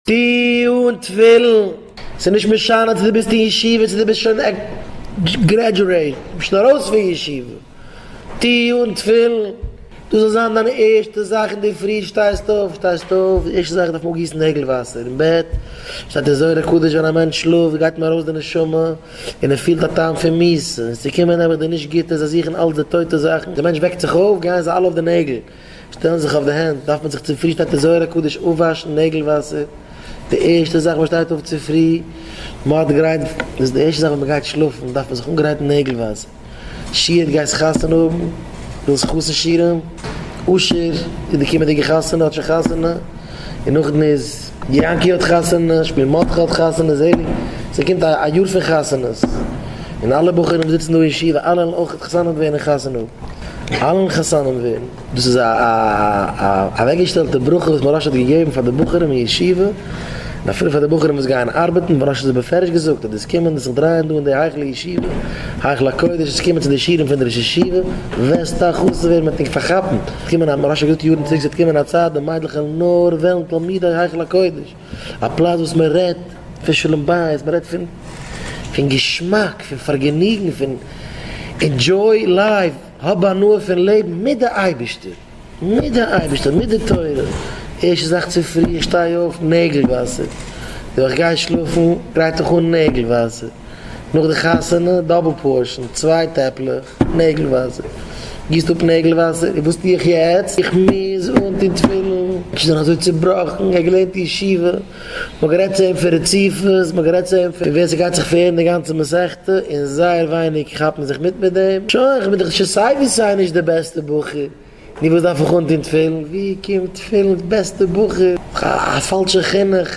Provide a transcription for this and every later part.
טו אן תפילין, ס'איז נישט משנה צו דו ביסט אין ישיבה צו דו ביסט שוין גרעדזשועיט, דו ביסט שוין ארויס פון ישיבה, טו אן תפילין, דאס זאל זיין דיין ערשטע זאך אין די פרי, שטייסט אויף, שטייסט אויף, די ערשטע זאך איז דארף מען אפגיסן נעגל וואסער אין בעט, שטייט אין זוהר הקדוש ווען א מענטש שלאפט גייט אים ארויס די נשמה, און ער פילט א טעם פון מיסה, און ס'קומען נעבעך די נישט גוטע, זיי זוכן אלץ די טויטע זאכן, די מענטש וועקט זיך אויף, גייען זיי אלע אויף די נעגל. שטעלן זיך אויף די הענט דארף מען זיך צופרי שטייט אין זוהר הקדוש אויפוואשן נעגל וואסער די ערשטע זאך מען שטייט אויף צופרי מאד גרייט איז די ערשטע זאך ווען מען גייט שלאפן דארף מען זיך אנגרייטן נעגל וואסער שיעט גייסט חתונה האבן ווילסט חתן שירעם אשר איז די קומענדיגע חתונה האט שוין חתונה און נאכדעם איז יענקי האט חתונה שמואל מרדכי האט חתונה זעליג ס'קומט א יאר פון חתונות און אלע בחורים וואס זיצן דא אין ישיבה אלע וועלן אויך חתן האבן ווערן חתן האבן. אלן חתנים ווערן, דאס איז א אוועקגעשטעלטע ברכה וואס מוהרא ש האט געגעבן פאר די בחורים אין ישיבה, און אפילו פאר די בחורים וואס גייען ארבעטן, מוהרא ש האט עס בפירוש געזאגט אז די סקומען די זיך דרייען דא אין די היכל הישיבה, היכל הקודש, און סקומען צו די שיעורים פון די ראש ישיבה, וועסטו א חתן ווערן מען וועט נישט פארכאפן, ס'וועט קומען א, מוהרא ש האט געזאגט יארן צוריק ס'וועט קומען א צייט ווען מיידלעך וועלן תלמידי היכל הקודש, א פלאץ וואס מען רעדט פון שלום בית, מען רעדט פון פון געשמאק, פון פארגעניגן, פון ענדזשוי לייף, האב הנאה פון לעבן מיט די אייבערשטער, מיט די אייבערשטער, מיט די תורה, ערשטע זאך צופרי איך שטיי אויף, נעגל וואסער, יאר איך גיי שלאפן, גרייט איך אן נעגל וואסער, נאך די חתונה, דאבל פארשען, צוויי טעפלעך. נעגל וואסער, גיסט אפ נעגל וואסער, און וואס טו איך יעצט? איך מוז אנטון תפילין! איך בין אזוי צובראכן, איך האב געלערנט אין ישיבה, מען האט גערעדט צו אים פון רציפות, מען האט גערעדט צו אים פון ווער ס'גייט זיך פארהערן די גאנצע מסכתא, און זייער ווייניג כאפן זיך מיט מיט דעם, שוין, איך בין דאך שוין סיי ווי סיי נישט די בעסטע בחור, נו וואס דארף איך אנטון תפילין? ווי קומט תפילין? בעסטע בחור? א פאלשע חינוך.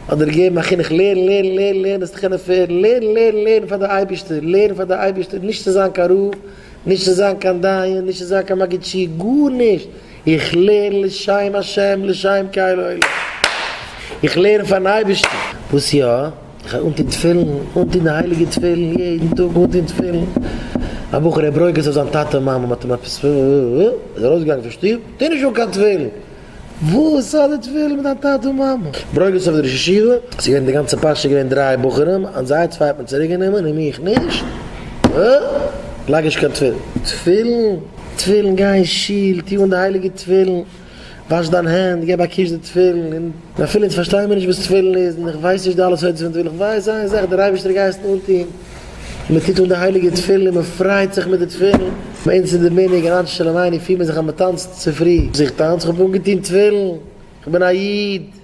האט דיר געגעבן א חינוך לערן לערן לערן לערן עס צו קענען פערן, לערן לערן לערן פאר די אייבערשטער, לערן פאר די אייבערשטער, נישט צו זיין קיין רב, נישט צו זיין קיין דיין, נישט צו זיין קיין מגיד שיעור, גארנישט, איך לערן לשם השם, לשם קהל עולם, איך לערן פארן אייבערשטן. וואס יא? איך וועל אנטון תפילין, אנטון די הייליגע תפילין, יעדן טאג אנטון תפילין, א בחור ער ברויגעזט אויף זיין טאטע און מאמע, מ'האט אים עפעס, ער איז ארויסגעגאנגען פון שטוב, טו נישט אן קיין תפילין. וואס זאל איך ווילן מיט דיין טאטע און מאמע? ברוגז אויף די ראש ישיבה? ס'איז געווען די גאנצע פרשה איז געווען דריי בחורים און זיי צוויי האט מען צוריק גענומען און מיך נישט? בה! לייג נישט קיין תפילין. תפילין? תפילין? גיי אין שול, טו אן די הייליגע תפילין, וואש דיין הענט, געב א קוש די תפילין, און אפילו אונז פארשטייען מיר נישט וואס תפילין איז און איך ווייס נישט די אלע סודות פון תפילין, איך ווייס איין זאך דער אייבערשטער גייסט אנטון. מען טוט אן די הייליגע תפילין, מען פרייט זיך מיט די תפילין, ביי אונז אין די מנהג אין אנש שלום עיני פיר מען זיך אז מען טאנצט צופרי, זיך טאנץ, איך האב אנגעטון תפילין, איך בין א איד.